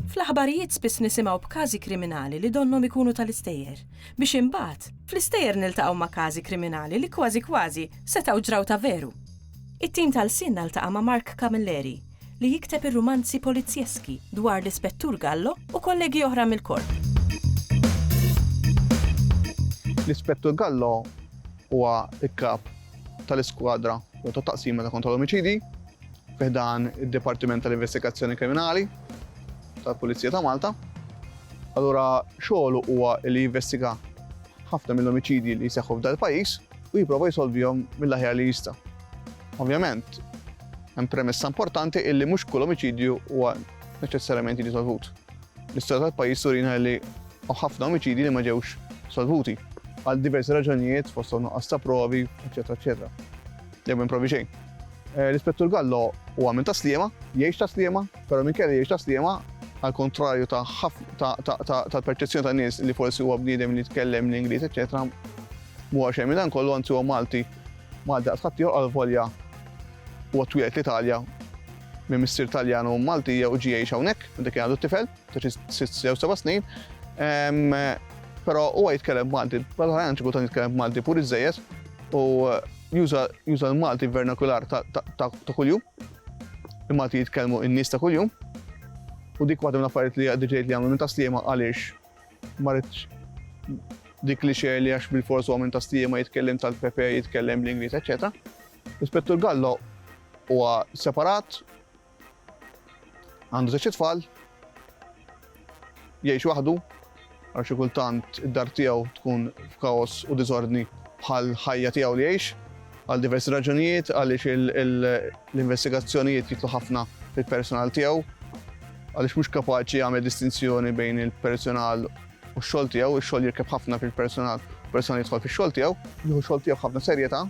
Fl-aħbarijiet spiss nisimgħu b'każi kriminali li donnhom ikunu tal-istejjer, biex imbagħad fl-istejjer niltaqgħu ma' każi kriminali li kważi kważi setgħu ġraw ta' veru. It-tim tal-lsienna ltaqa' ma' Mark Camilleri, li jikteb ir-rumanzi polizzjeski dwar l-Ispettur Gallo u kollegi oħra mill-Korp. L-Ispettur Gallo huwa l-Kap tal-Iskwadra jew tat-Taqsima ta' Kontra l-Omiċidji fi ħdan id-Dipartiment tal-Investigazzjoni Kriminali tal-Pulizija ta' Malta. Allura xogħlu huwa li jinvestiga ħafna mill-omiċidji li jseħħu f'dal-pajjiż u jipprova jsolvihom mill-aħjar li jista'. Ovvjament, hemm premessa importanti illi mhux kull omiċidju huwa neċessarjament jiġi solvut. L-istorja tal-pajjiż turina li ħafna omiċidji li ma ġewx solvuti għal diversi raġunijiet fost nuqqas ta' provi, eċetera, eċetera. Jew minn provi xejn. Eh, L-Ispettur Gallo huwa minn taslima, jgħix taslima, però minn kelli jgħix taslima għal kontrarju tal-perċezzjoni ta' nies li forsi huwa bniedem li tkellem l-Ingliż, eċetera, mhuwa xejn minn dan kollu anzi huwa Malti Malti għad ħadd ieħor għalvolja huwa twieled l-Italja minn missier Taljan u Malti jew ġie jgħix hawnhekk meta kien għadu tifel, ta' sitt jew seba' snin. Però huwa jitkellem Malti, bħal-ħajjan xi kultant jitkellem Malti pur iżejjed u juża l-Malti vernakular ta' kuljum. Il-Malti jitkellmu n-nies ta' kuljum. U dik waħda mill-affarijiet li għaddi ġejt li għamlu minn ta' Sliema għaliex Ma ridx dik li xejn li għax bil-fors huwa minn Kastija ma jitkellem tal-Pepe, jitkellem bl-Ingliż, eċetera. L-Ispettur Gallo huwa separat, għandu żewġ tfal, jgħix waħdu, għal xi kultant id-dar tiegħu tkun f'kaos u diżordni bħal ħajja tiegħu li jgħix. Għal diversi raġunijiet, għaliex l-investigazzjonijiet jitlu ħafna fil-persunal tiegħu, għaliex mhux kapaċi jagħmel distinzjoni bejn il-persunal u x-xogħol tiegħu, ix-xogħol jirkeb ħafna fil-persunal, il-persunal jidħol fix-xogħol tiegħu, jieħu x-xogħol tiegħu b'ħafna serjetà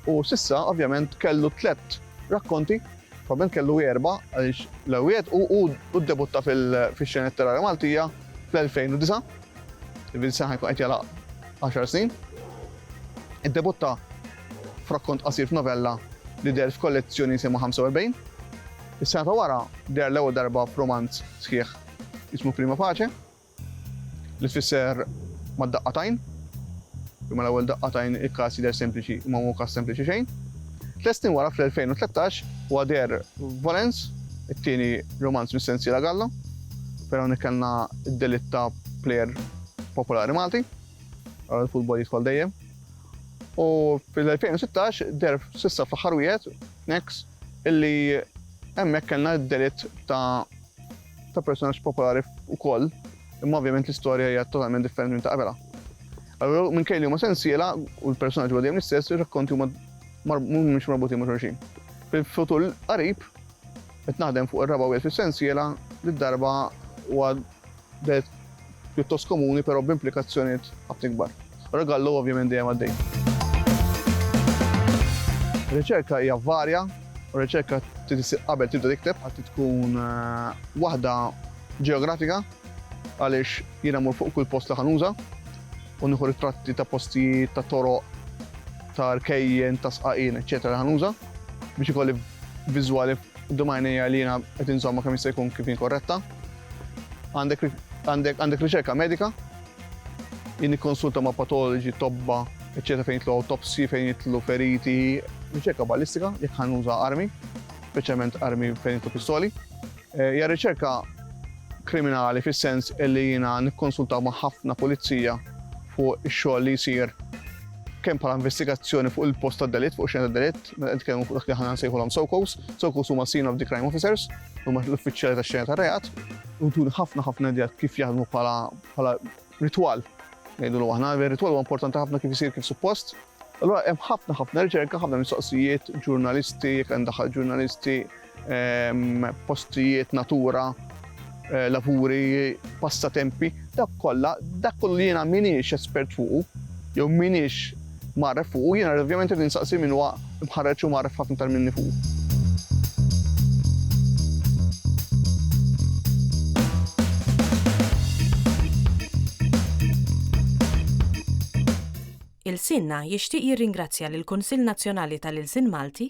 u s'issa ovvjament kellu tliet rakkonti, probabbilment kellu erba' għaliex l-ewwiet u ddebutta fix-xena letterarja Maltija fl-2009. Il-Vincent ħajkun qed jagħlaq 10 snin. Iddebutta f'rakkont qasir f'novella li deher f'kollezzjoni jisimha 45. Is-sena ta' wara deher l-ewwel darba f'romanz sħiħ jismu Prima Pace li tfisser mad-daqqatajn. Imma l-ewwel daqqatajn il-każ jidher sempliċi imma mhu każ sempliċi xejn. Tliet snin wara, fl-2013, huwa deher f'Volence, it-tieni rumanz mis-sensiela Galla, fejn hawnhekk kellna d-delitt ta' plejer popolari Malti, ara l-futbol jidħol dejjem, u fl-2016 deher s'issa fl-aħħar wieħed, Next, illi hemmhekk kellna d-delitt ta' ta' personaġġ popolari wkoll, imma ovvjament l-istorja hija totalment differenti minn ta' qabela. Allura minn kejli huma sensiela u l-personaġġi huwa dejjem l-istess, ir-rakkonti huma mhumiex marbutin ma' xulxin. Fil-futur qarib qed naħdem fuq ir-raba' wieħed fis-sensiela li darba huwa pjuttost komuni però b'implikazzjonijiet ħafna ikbar. Ragallo ovvjament dejjem għaddejja. Ir-riċerka hija varja u r-riċerka trid issir qabel tibda tikteb. Trid tkun waħda ġeografika għaliex jiena mmur fuq kull post li ħa nuża u nieħu ritratti ta' postijiet, ta' toroq, ta' rkejjen, ta' sqaqien, eċċetera li ħa nuża biex ikolli viżwali quddiem għajnejja li jiena qed inżommha kemm jista' jkun kif hi korretta. Għandek għandek għandek riċerka medika, jien nikkonsulta ma' patoloġi, tobba, eċċetera fejn jitlu autopsi, fejn jitlu feriti, riċerka ballistika jekk ħanuża armi, speċjalment armi fejn jitlu pistoli. Eh, hija riċerka kriminali fis-sens li jiena nikkonsulta ma' ħafna pulizija fuq ix-xogħol li jsir kemm bħala investigazzjoni fuq il-post tad-delitt, fuq xena tad-delitt, Meta nitkellmu fuq dak li aħna nsejħulhom SOCOs, SOCOs huma Scene of the Crime Officers, huma l-uffiċjali tax-xena tar-reat, u tuni ħafna ħafna idea kif jaħdmu bħala ritwal. Ngħidulu aħna, ir-ritwal huwa importanti ħafna kif isir kif suppost. Allura hemm ħafna ħafna riċerka, ħafna mistoqsijiet, ġurnalisti, jekk hemm daħal ġurnalisti, postijiet, natura, lavuri, passatempi, dawk kollha, dak kollu li jiena m'iniex espert fuqu, jew m'iniex magħref fuqu, jiena ovvjament irid insaqsi min huwa mħarreġ u magħref ħafna tal minni fuqu. Ilsienna jixtieq jirringrazzja lill-Kunsill Nazzjonali tal-Ilsien Malti,